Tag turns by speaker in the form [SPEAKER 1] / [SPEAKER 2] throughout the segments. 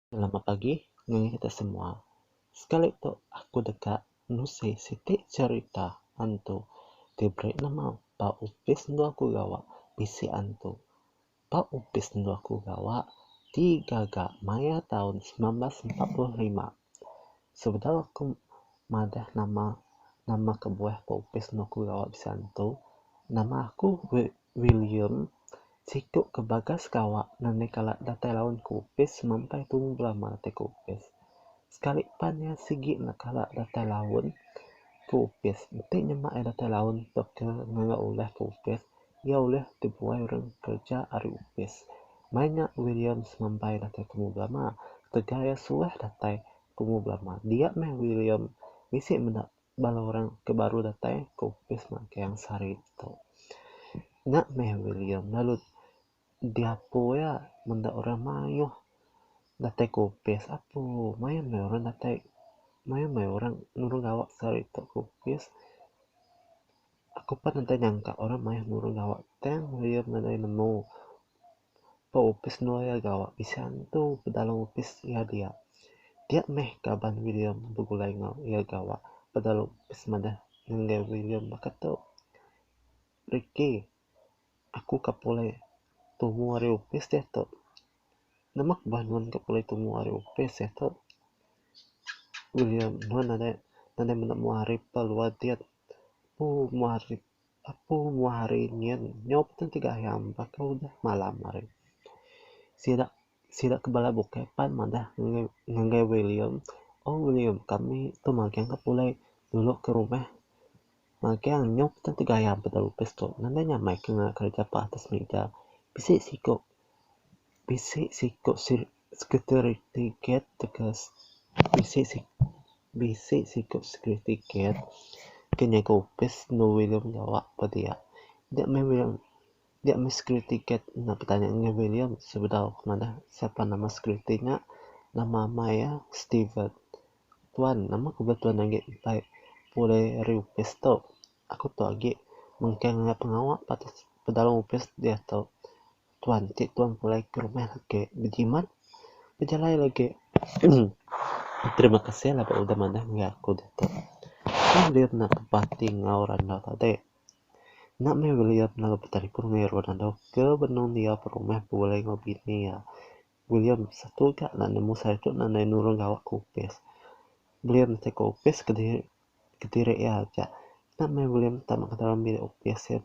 [SPEAKER 1] Selamat pagi ngagai kita semua. Sekali tu aku deka nusi siti cherita antu ti beri nama ba opis enggau aku gawa bisi antu. Ba opis endo aku gawa ti gaga maya taun semilan belas empat puluh lima, sebedau aku madah nama nama kebuah ba opis endo aku gawa bisi antu, nama aku wil william siku ke bagas gawa ngagai kala datai laun ke opis sampai tumu belama ti ke opis. Sekali pan iya sigi enda kala datai laun ke opis, enti nyema iya datai laun tauka ngaga ulah ke opis Iya ulih dibuai orang kereja ari opis. Mai nya Williams ngambai datai tumu belama ketegal iya suah datai tumu belama. Dia meh William bisi meda bala orang ke baru datai ke opis mak Kayang Sari tu. Nya meh William lalu diapu iya meda orang mayuh datai ke opis. Apu mayuh meh orang datai mayuh meh orang nulung gawa sehari tu ke opis. Aku pan udah nyangka orang mayuh nulung gawa tang lawyer nadai nemu ba opis lawyer gawa bisi antu ba dalam opis iya dia. Dia meh kaban William begulai enggau iya gawa ba dalam opis madah ngagai William baka tu. Ricky, aku ka pulai tumu ari opis diatu. Nama ku bah nuan ka pulai tumu ari opis diatu? William, nuan nadai nadai menda mengua ari pa luar diat. Apu muah hari apu muah hari nyin nyau petun ti gayam baka udah malam hari. Sida sida ke bala bukai pan madah ngagai ngagai William, Oh William kami tu magang ka pulai dulu ke rumah. Magang nyau petun ti gayam peda opis tu nadai nyamai ke ngaga kerja pa atas mega. Bisi siku bisi siku Security Guard tauka bisi bisi siku security guard ke nyaga opis enda ulih ulih mengawa ba dia. Nya meh William nya meh security guard enda betanya ngah William sebedau ke manah sapa nama security nya nama amai iya Steven. Tuan nama ke bala tuan agi mpai pulih ari opis tu. Aku tu agi mengkang nya pengawa patut ke dalam opis diatu. tuan ti tuan pulai ke rumah agi bejimat bejalai agi emm terima kasih laban udah manah enggau aku ditu tang dia enda bati enggau randau tadi enda meh william lalu betelefon enggau irun anok ke benung dia berumah begulai enggau bini iya william satu ga enda nemu sehari tu enda nai nulung gawa ke opis william ti ke opis kediri kediri iya aja enda meh william tama ke dalam bilik opis iya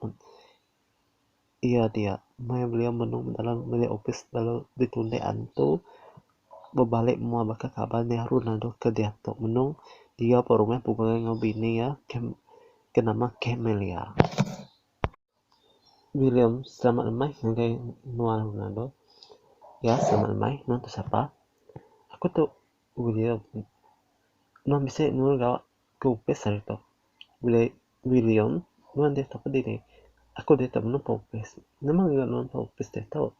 [SPEAKER 1] Iya dia meh beliau menung dalam bilik opis lalu ditunde antu bebale mua baka kaban nya arun andu ke diatu menung iya pun rumah pegui enggau bini iya ke nama Camelia. William selamat lemai ngagai menua arun andu. Ya selamat lemai nuan tu sapa? Aku tu William. Nuan bisi nulung ga Ku Opis tu, Wili, William, nuan diatu ke dini? Aku diatu menu Pak Opis. Nama ngagai nuan Pak Opis diatu?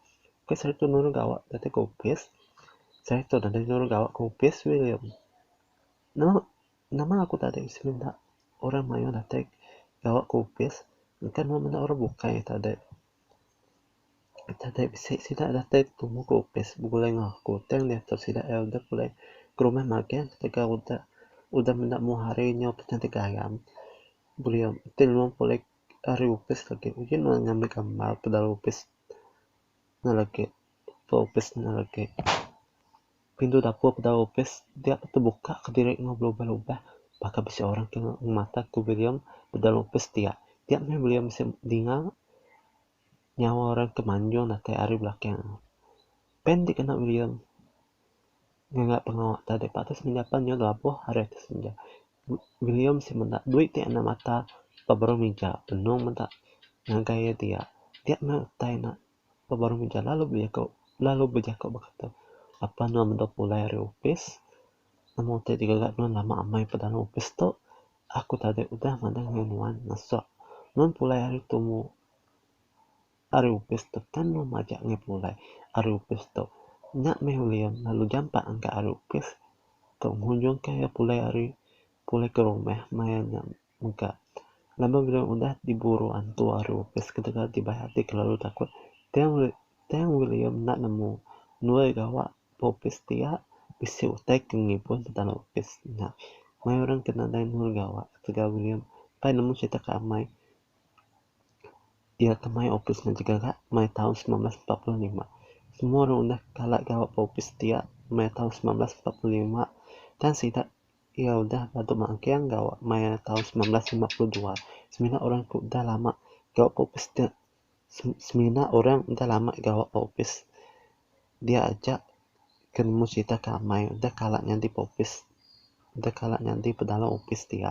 [SPEAKER 1] Opis hari tu nurun gawa datai ke opis. Sehari tu nadai nurun gawa ke opis, William. Nama, nama aku tadi bisi minta orang mayuh datai gawa ke opis, engka nuan menda orang bukai tadi. Tadai bisi sida datai betemu ke opis begulai enggau aku tang diatu sida ira dep ulih ke rumah magang ketegal udah udah menda mung hari nyau peti ti garam beliau ti lebuh pulih ari opis lagi uji meh ngambi gambar ke dalam opis ne lagi. Tok opis nya agi. Pintu dapur peda opis dia deh tebuka kediri enggau belubah lubah. Baka bisi orang ti ngemata ku William ba dalam opis dia. Dia meh William bisi dinga nyawa orang ti manjung datai ari belakang. Pen ti kena William ngaga pengawa ti deh patut senda pan nyau labuh ari ati senda. William bisi meda duit ti enda mata ba baruh mija. Benung meda ngagai iya dia. Dia meh utai ne. Ba baruh mega lalu bejako lalu bejako bekata apan nuan meda pulai ari opis nama utai ti gaga nuan lama amai ba dalam opis tu aku tadi udah madah ngan nuan ngesok nuan pulai ari tumu ari opis tu kan nuan majak ngai pulai ari opis tu nya meh ulih iya lalu jampat engka ari opis tu ngujungka iya pulai ari pulai ke rumah maya nya. Mega, laban bendar udah diburu antu aru ke sekeda ti bai ati kelalu takut Tang Tang William enda nemu nuai gawa ba opis dia bisi utai ke ngibun petara opis nya. Mai orang ke nadai nuai gawa ketegal William pai nemu serita ke amai iya ke mai opis nya jegaga mai taun semilan belas empat puluh lima. Semua orang udah kala gawa ba opis dia mai taun semilan belas empat puluh lima tang sida Iya udah badu mak engking gawa maya taun semilan ratus lima puluh dua. Semina orang tu udah lama gawa ba opis dia. Semina orang udah lama gawa ba opis dia aja ke nemu crita ke amai udah kala nyadi ba opis udah kala nyadi ba dalam opis dia.